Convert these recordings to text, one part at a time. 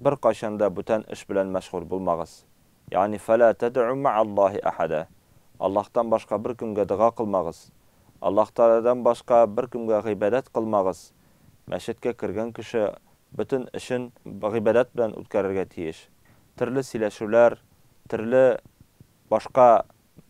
Беркайчан да бүтән эш белән мәшгуль булмагыз. Ягъни, фәлә тәдәү мәгәл-Лаһи әхәдә. Аллаһтан башка беркемгә дога кылмагыз. Аллаһ Тәгаләдән башка беркемгә гыйбадәт кылмагыз. Мәчеткә кергән кеше бөтен эшен гыйбадәт белән үткәрергә тиеш. Төрле сөйләшүләр, төрле башка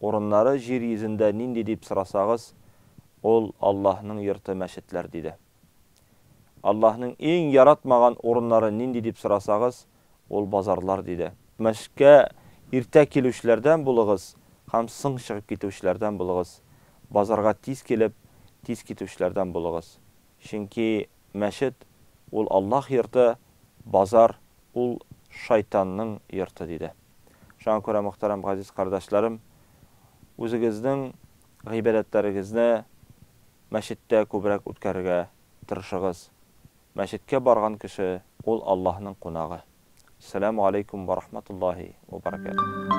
Урыннары җир йөзендә нинди дип сорасагыз, ул Аллаһның йорты мәчетләр, диде. Аллаһның иң яратмаган урыннары нинди дип сорасагыз, ул базарлар, диде. Мәчеткә иртә килүчеләрдән булыгыз һәм соң чыгып китүчеләрдән булыгыз, базарга тиз килеп, тиз китүчеләрдән булыгыз. Чөнки мәчет, ул Аллаһ йорты, базар, ул шайтанның йорты, диде. Шуңа күрә, мөхтәрәм газиз кардәшләрем, үзегезнең гыйбадәтләрегезне мәчеттә күбрәк үткәрергә тырышыгыз. Мәчеткә барган кеше, ул Аллаһның кунагы. Сәләму алейкум вә рахматуллаһи вә баракәтүһ.